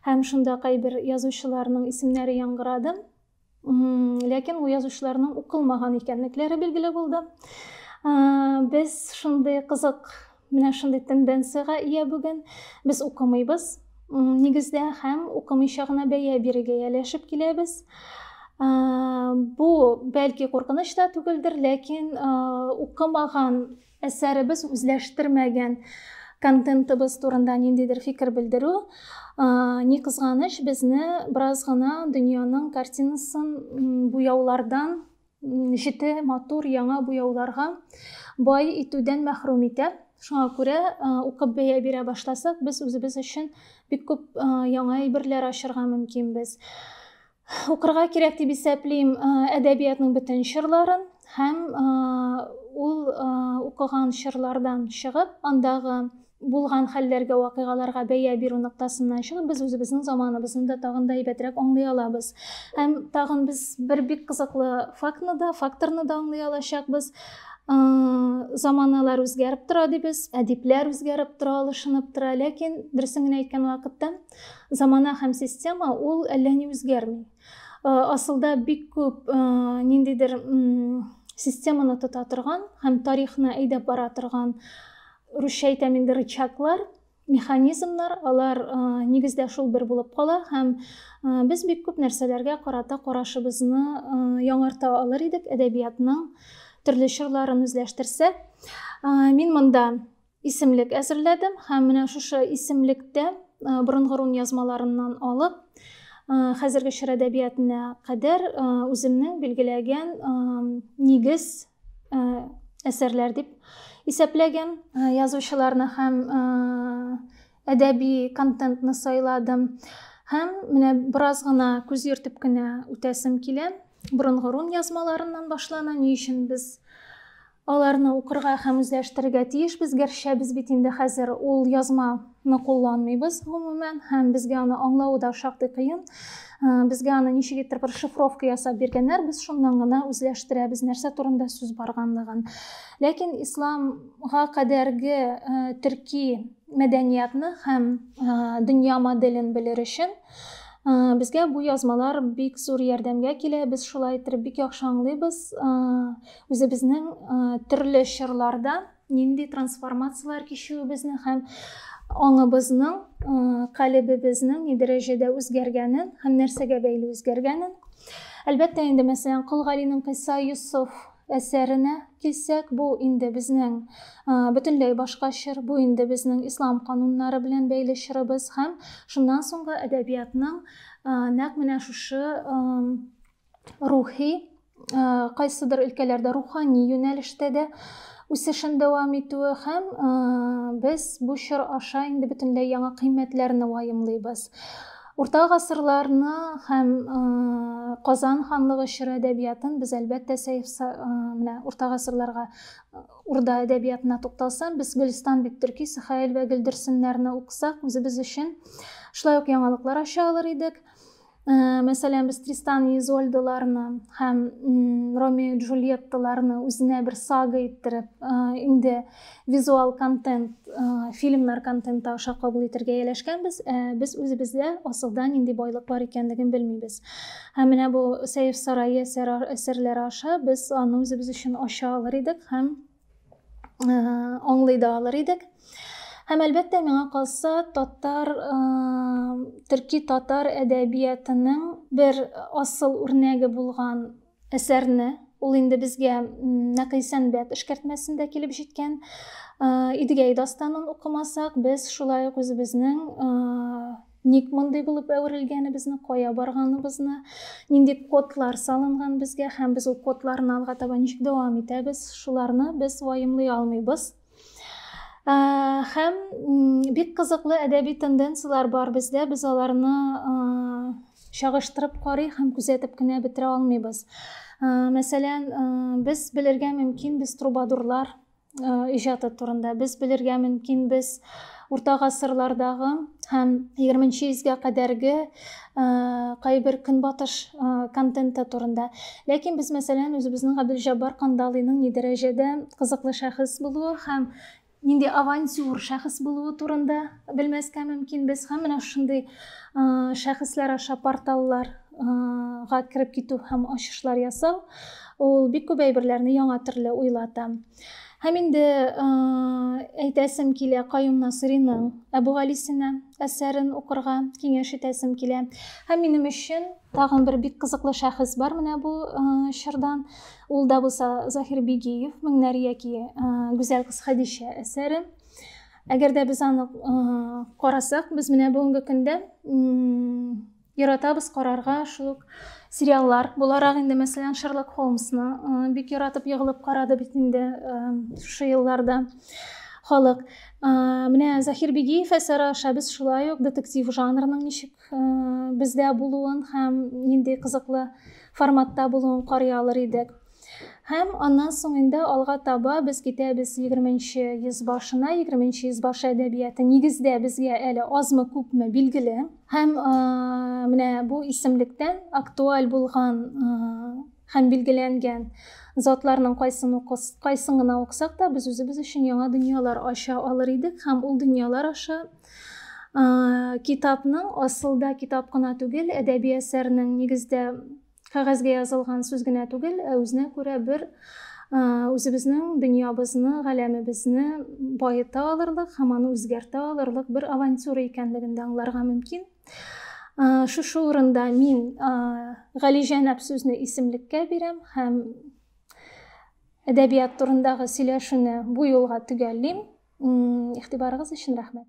һәм шунда кайбер язучыларның исемнәре яңгырады Ләкин бу язучыларның укылмаган икәнлекләре билгеле булды. Без шундый кызык, менә шундый тенденцияга ия бүген. Без укымыйбыз нигездә һәм укымыйча гына бәя бирергә яләшеп киләбез. Бу бәлки куркыныч та түгелдер, ләкин укымаган Әсәребез үзләштермәгән контентыбыз турында ниндидер фикер белдерү, ни кызганыч, безне бераз гына дөньяның картинасын буяулардан җете матур яңа буяуларга бай итүдән мәхрүм итә. Шуңа күрә укып бәя бирә башласак, без үзебез өчен бик күп яңа әйберләр ачырга мөмкинбез. укырга кирәк дип исәплим әдәбиятның бөтен чырларын һәм ул укыган чырлардан чыгып андагы булган хәлләргә вакыйгаларга бәя бирү ноктасыннан чыгып без үзебезнең заманыбызны да тагын да әйбәтрәк аңлый алабыз һәм тагын без бер бик кызыклы фактны да факторны да аңлый алачакбыз заманалар үзгәреп тора дибез әдипләр үзгәреп тора алышынып тора ләкин дөресен генә әйткән вакытта Замана һәм система ул әллә ни үзгәрми. Асылда бик күп ниндидер системаны тота торган һәм тарихны әйдәп бара торган русча әйтәм инде рычаглар механизмнар алар э, нигездә шул бер булып кала һәм э, без бик күп нәрсәләргә карата карашыбызны э, яңарта алыр идек әдәбиятның төрле чорларын үзләштерсәк мин монда исемлек әзерләдем һәм менә шушы исемлектә борынгы рун язмаларыннан алып хәзерге чор әдәбиятына кадәр үземнең билгеләгән нигез әсәрләр дип исәпләгән язучыларны һәм әдәби контентны сайладым һәм менә бераз гына күз йөртеп кенә үтәсем килә борынгы рун язмаларыннан башлана ни өчен без Аларны укырга һәм үзләштерергә тиешбез, гәрчә без бит инде хәзер ул язма ны кулланмыйбыз гомумән һәм безгә аны аңлавы да шактый кыен. Безгә аны ничек иттереп бер шифровка ясап биргәннәр, без шуннан гына үзләштерәбез, нәрсә турында сүз барганлыгын. Ләкин исламга кадәрге төрки мәдәниятны һәм дөнья моделен белер өчен безгә бу язмалар бик зур ярдәмгә килә. Без шулай иттереп бик яхшы аңлыйбыз. Үзебезнең төрле чорларда нинди трансформацияләр кичүебезне һәм аңыбызның, калебебезнең ни дәрәҗәдә үзгәргәнен һәм нәрсәгә бәйле үзгәргәнен. Әлбәттә инде, мәсәлән, Кол Галинең Кыйса Юсуф әсәренә килсәк, бу инде безнең бөтенләй башка чор, бу инде безнең ислам кануннары белән бәйле чорыбыз һәм шуннан соңгы әдәбиятның нәкъ менә шушы рухи, э, кайсыдыр өлкәләрдә рухани юнәлештә дә үсешен дәвам итүе һәм э, без бу чор аша инде бөтенләй яңа кыйммәтләрне ваемлыйбыз. Урта гасырларны һәм э, Казан ханлыгы чоры әдәбиятын без әлбәттә сәйф э, менә урта гасырларга э, урда әдәбиятына тукталсам, без Гөлстан бит төрки Сахаил вә Гөлдерсеннәрне укысак, үзебез өчен шулай ук яңалыклар ача алыр идек. мәсәлән без тристан и изольдаларны һәм ромео джульетталарны үзенә бер сага иттереп инде визуал контент фильмнар контенты аша кабул итәргә ияләшкәнбез ә без үзебездә асылда нинди байлык бар икәнлеген белмибез һәм менә бу сәйф сарае әсәрләре аша без аны үзебез өчен ача алыр идек һәм аңлый да алыр идек. Һәм әлбәттә миңа калса татар төрки татар әдәбиятының бер асыл үрнәге булган әсәрне ул инде безгә Нәкый Сәнбәт эшкәртмәсендә килеп җиткән Идегәй дастанын укымасак, без шулай ук үзебезнең ник мондый булып әверелгәнебезне кая барганыбызны нинди кодлар салынган безгә һәм без ул кодларны алга таба ничек дәвам итәбез шуларны без ваемлый алмыйбыз ә, һәм бик кызыклы әдәби тенденцияләр бар бездә без аларны ә, чагыштырып карый һәм күзәтеп кенә бетерә алмыйбыз ә, мәсәлән ә, без белергә мөмкин без трубадурлар иҗаты турында без белергә мөмкинбез урта гасырлардагы һәм егерменче йөзгә кадәрге кайбер көнбатыш контенты турында ләкин без мәсәлән үзебезнең габделҗаббар кандалыйның ни дәрәҗәдә кызыклы шәхес булуы һәм нинди авантюр шәхес булуы турында белмәскә мөмкинбез һәм менә шундый шәхесләр аша порталлар га кереп китү һәм ачышлар ясау ул бик күп әйберләрне яңа төрле уйлата һәм инде әйтәсем килә каюм насыриның әбүгалисина әсәрен укырга киңәш итәсем килә һәм минем өчен тагын бер бик кызыклы шәхес бар менә бу чордан ул да булса заһир бигиев меңнәр яки гүзәл кыз хәдичә әсәре әгәр дә без аны карасак без менә бүгенге көндә Яратабыз карарга шул ук сериаллар буларак инде мәсәлән Шерлок Холмсны э, бик яратып егылып карады бит инде э, шушы елларда халык. Э, менә Захир Бигиев әсәре аша без шулай ук детектив жанрының ничек бездә булуын һәм нинди кызыклы форматта булуын карый алыр идек. Һәм аннан соң инде алга таба без китәбез егерменче йөз башына. Егерменче йөз башы әдәбияты нигездә безгә әле азмы-күпме билгеле. Һәм менә бу исемлектән актуаль булган һәм билгеләнгән затларның кайсын укыс, кайсын гына укысак та, без үзебез өчен яңа дөньялар ача алыр идек һәм ул дөньялар аша китапның асылда китап кына түгел, әдәби әсәрнең нигездә кәгазьгә язылган сүз генә түгел, ә үзенә күрә бер үзебезнең дөньябызны, галәмебезне баета алырлык һәм аны үзгәртә алырлык бер авантюра икәнлеген дә аңларга мөмкин. Шушы урында мин Галиҗәнәп сүзне исемлеккә бирәм һәм әдәбият турындагы сөйләшүне бу юлга төгәллим. Игътибарыгыз өчен рәхмәт.